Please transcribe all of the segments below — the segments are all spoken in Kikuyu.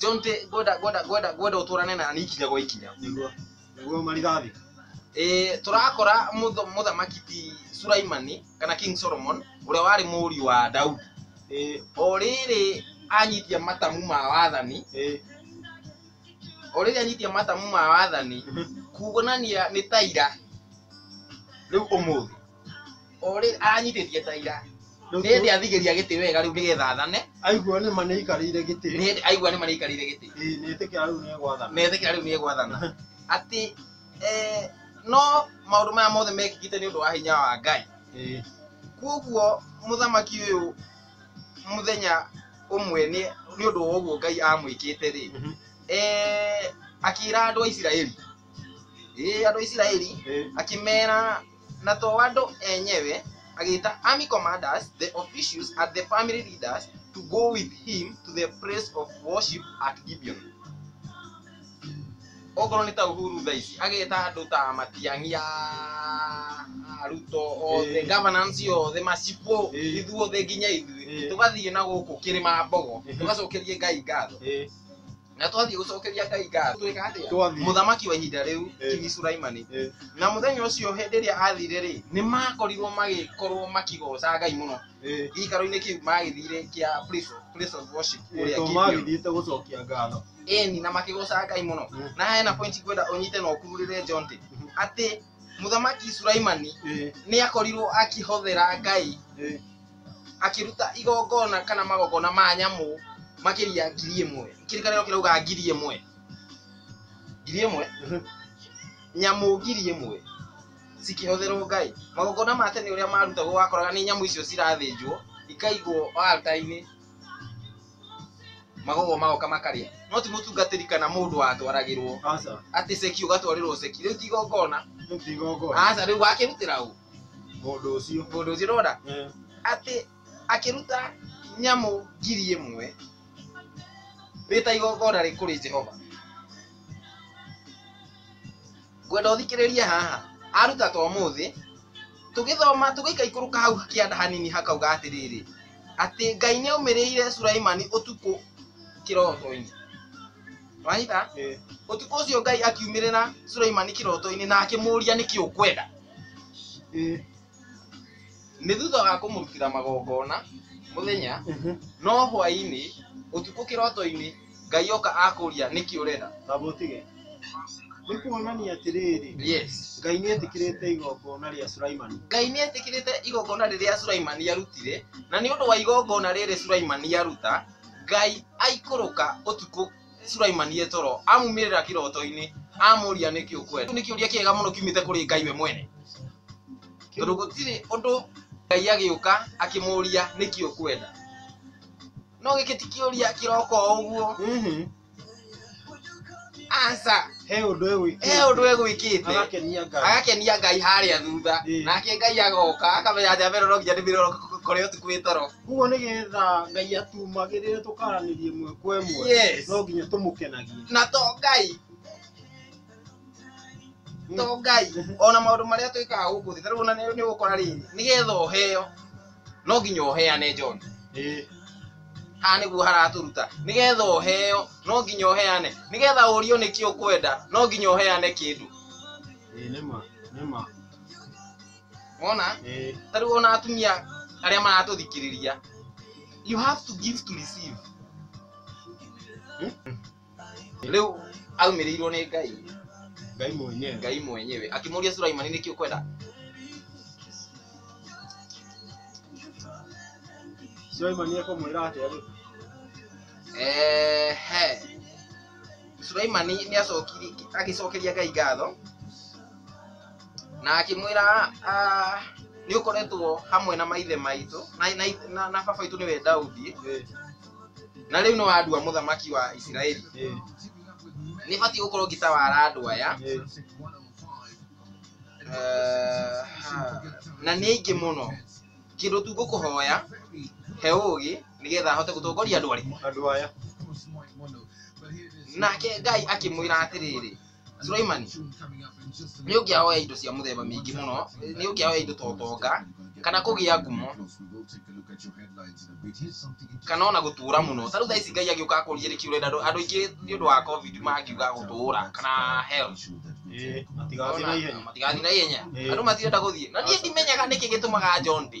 John te goda goda goda goda uturane na ni ikinya gwa ikinya niguo niguo marithathi eh turakora mutho- muthamaki ti Sulaimani kana King Solomon uria wari mũriũ wa Daudi eh o rĩrĩ anyitia matamu ma wathani eh o rĩrĩ anyitia matamu ma wathani kuonania nĩ taira rĩu ũmũthĩ Ũrĩ- aranyitĩtie ta ira nĩ hĩndĩ athigĩria gĩtĩ wega rĩu nĩgetha athane aigua nĩ ma nĩ aikarĩire nĩ gĩtĩ hĩndĩ aigua nĩ marĩikarĩire gĩtĩ Ĩĩ, nĩ ĩtĩkĩra rĩu nĩ egwathana metĩkĩra rĩu nĩ egwathana atĩ eh, no maũndũ maya mothe mekĩkĩte nĩ ũndũ wa hinya wa ngai Ĩĩ, kwoguo mũthamaki ũyũ mũthenya ũmwe nĩ nĩ ũndũ wa ũguo ngai amwĩkĩte rĩ mhm, eh, akĩra andũ a isiraeli Ĩĩ, andũ a isiraeli ĩĩ, akĩmera na to andũ enyewe, agĩĩta army commanders, the officials, and the family leaders to go with him to the place of worship at Gibeon. Okorwo nĩ ta Uhuru thaa ici, ageta andũ ta Matiang'i ya Ruto othe, Eh. governance yothe, macibũ, Eh. ithuothe nginya ithuĩ, Eh. tũgathiĩ na gũkũ kĩrĩma Mbogo, Eh. tũgacokerie Ngai ngatho. Eh, na twathiĩ gũcokeria ngai ngatho twĩka atĩa Twathiĩ. mũthamaki wa ihinda rĩu Eh. kingi suraimani Eh. na mũthenya ũcio hĩndĩ ĩrĩa athire rĩ nĩ makorirwo magĩkorwo makĩgoca ngai mũno Eh, gĩikaro-inĩ kĩu magĩthire kĩa place of- place of worship eh, kũrĩa to Gibeon. magĩthiĩte gũcokia ngatho eni na makĩgoca ngai mũno Mm. na hena point ngwenda ũnyite na ũkururĩre jonte atĩ mũthamaki suraimani Eh, nĩ akorirwo akĩhothera ngai eh, akĩruta igongona kana magongona ma nyamũ makĩria ngiri ĩmwe kĩrĩkanĩro kĩrauga ngiri ĩmwe ngiri ĩmwe mhm. nyamũ ngiri ĩmwe cikĩhũthĩrwo ngai magongona ma tene ũrĩa marutagwo wakoraga nĩ nyamũ icio cirathĩnjwo ikaigwo alta-inĩ magogo magoka makarĩa no ti mũtungatĩri kana mũndũ watwaragĩrwo Aca. atĩ ceki ũgatwarĩrwo ceki rĩu ti igongona Rĩu ti igongona. aca rĩu wakĩrutĩra ũ mũndũ ũcio mũndũ ũcio ũrona eh, atĩ akĩruta nyamũ ngiri ĩmwe rĩ ta igongona rĩ kũrĩ jehova ngwenda ũthikĩrĩrie haha aruta ta ũmũthĩ tũgĩthoma tũgĩikaikũrũka hau kĩanda hanini hakauga atĩrĩrĩ atĩ ngai nĩ aumĩrĩire suraimani ũtukũ kĩroto-inĩ wanyita eh, ũtukũ ũcio ngai akiumĩrĩra suraimani kĩroto-inĩ na akĩmũria nĩkĩ ũkwenda Ĩĩ. Nĩ thutha wa kũmũrutĩra magongona mũthenya, Mhm. no hwaĩ-inĩ, ũtukũ kĩroto-inĩ, Ngai oka akũria nĩkĩ ũrenda. Kaba ũtige. Nĩ kuonania atĩrĩrĩ, Yes. Ngai nĩ etĩkĩrĩte igongona rĩa Sulaimani. Ngai nĩ etĩkĩrĩte igongona rĩrĩa Sulaimani arutire, na nĩ ũndũ wa igongona rĩrĩ Sulaimani aruta, Ngai aikũrũka ũtukũ Nĩ Sulaimani e toro amuumĩrĩra kĩroto-inĩ amũũria nĩkĩ ũkwenda. Kĩu nĩ kĩũria kĩega mũno kiumĩte kũrĩ Ngai we mwene, tondũ gũtirĩ ũndũ Ngai agĩũka akĩmũũria nĩkĩ ũkwenda. No gĩkĩ ti kĩũria kĩroka o ũguo, Mhm. aca, He ũndũ he egwĩkĩte. ũndũ egwĩkĩte Agakenia Ngai. agakenia Ngai harĩa thutha, Ĩĩ. nake Ngai agoka akamenya atĩ Ameroro nginya nĩ mĩroro kore ũtukũ wĩ toro. Koguo nĩ getha Ngai atumagĩrĩre tũkaranĩrie ĩmwe kwa ĩmwe Yes. no nginya tũmũkenagie. na to ngai to ngai ona maũndũ marĩa twĩkaga gũkũ thĩ tarĩu ona nĩ nĩ ũgũkora rĩrĩ nĩ getha ũheo no nginya ũheane John Ĩĩ. haha nĩguo haratũruta nĩ getha ũheo no nginya ũheane nĩ getha ũrio nĩkĩ ũkwenda no nginya ũheane kĩndũ Ĩĩ nĩ ma, nĩ ma. wona Eh, ta rĩu ona atumia arĩa maratũthikĩrĩria you have to give to receive Hmm? rĩu aumĩrĩirwo nĩ ngai ngai mwenyewe ngai mwenyewe akĩmũria suraimani nĩkĩ ũkwenda suleimani ekamwĩra atĩa rĩu Ehe. suraimani nĩ acokiri agĩcokeria ngai ngatho na akĩmwĩra "Ah, nĩ ũkoretwo hamwe na maithe maitũ na, na, na, na baba itũ nĩwe daudi na rĩu nĩ wandua mũthamaki wa isiraeli nĩ batiĩ gũkorwo ngĩtawara andũ aya Eh, ha. na nĩ aingĩ mũno kĩndũ tu ngũkũhoya he ũgĩ nĩgetha ahote gũtongoria andũ arĩkũ andũ aya nake ngai akĩmwĩra atĩrĩrĩ Sulaimani nĩ ũngĩa hoya indo cia mũthemba mĩingĩ mũno nĩ ũngĩa hoya indo ta ũtonga kana kũgĩa ngumo kana ona gũtũra mũno ta rĩu thaa ici Ngai agĩũka akũrie nĩkĩ ũrenda andũ andũ aingĩ nĩ ũndũ wa covid mangiuga gũtũra kana hell Ĩĩ, matigathiĩ na ihenya. matigathiĩ na ihenya Ĩĩ. andũ matirenda gũthiĩ na niĩ ndimenyaga nĩkĩ gĩtũmaga John ndĩ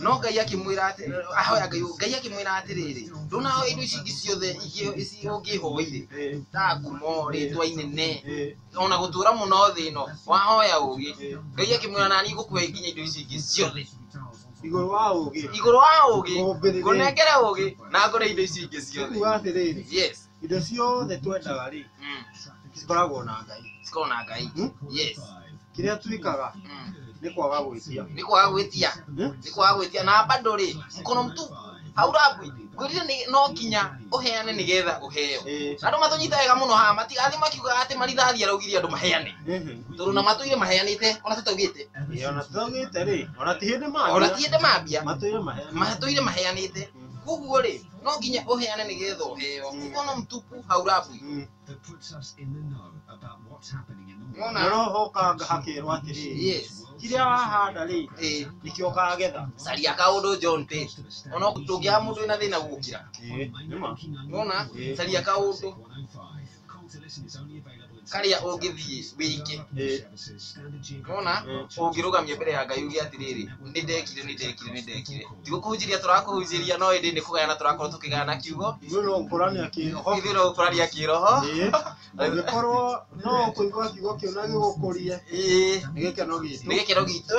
no ngai akĩmwĩra atĩ- ahoya ngai ngai akĩmwĩra atĩrĩrĩ ndũnahoya indo ici ingĩ ciothe ingĩ- ici ũngĩhoire Eh, ta ngumo rĩtwa inene eh, ona gũtũra mũno thĩ ĩno wahoya ũgĩ eh. ngai akĩmwĩra nani ngũkũhe nginya indo ici ingĩ ciothe igũrũ wa ũgĩ igũrũ wa ũgĩ Ũmbĩrĩre. ngũnengere ũgĩ na ngũre indo ici ingĩ ciothe kuga atĩrĩrĩ yes indo ciothe twendaga rĩ Mm. cikoragwo na ngai Siko na ngai. Hmm? Yes. kĩrĩa twĩkaga Mm. nĩ kwaga gwĩtia Nĩ kwaga gwĩtia. Eh? Nĩ kwaga gwĩtia na bado rĩ mkono mtupu. Haurabwi. Ngwĩrire nĩ no kinya ũheane nĩgetha ũheo. Eh, Andũ matũnyita wega mũno haha matigathi makiugaga atĩ marithathi araugire andũ maheane. ehe. Tondũ na matũire maheanĩte ona tũtaugĩte. Ĩ, ona tũtagĩte rĩ ona ti hĩndĩ Ona maria ti hĩndĩ mambia. matũire maheana Matũire maheanĩte. Koguo rĩ No nginya ũheane nĩ getha ũheo. Mkono mtupu haurambwi. Nĩwona? Rora ũhokanga hakerwo atĩrĩ Yes. kĩrĩa wahanda rĩ Eh. nĩkĩo ũkagetha Caria kaũndũ John Page. Ona tũngĩaga mũndũ wĩna thĩna gũkira. Nĩma. Nĩwona? Caria kaũndũ. karĩa ũngĩthiĩ wĩke nĩwona ũngĩrũgamio mbere ya ngai uge atĩrĩrĩ nĩ ndekire nĩ ndekire nĩ ndekire ti gũkũhunjĩria tũrakũhunjĩria no ĩndĩ nĩ kũgayana tũrakorwo tũkĩgayana kiugo ithuĩ no gũkũrania kĩroho ithuĩ no gũkũrania kĩroho Ĩĩ, ũngĩkorwo no kũigua kiugo kĩu na gĩgũkũrie ĩĩ nĩ gĩkeno gitũ nĩ gĩkeno gitũ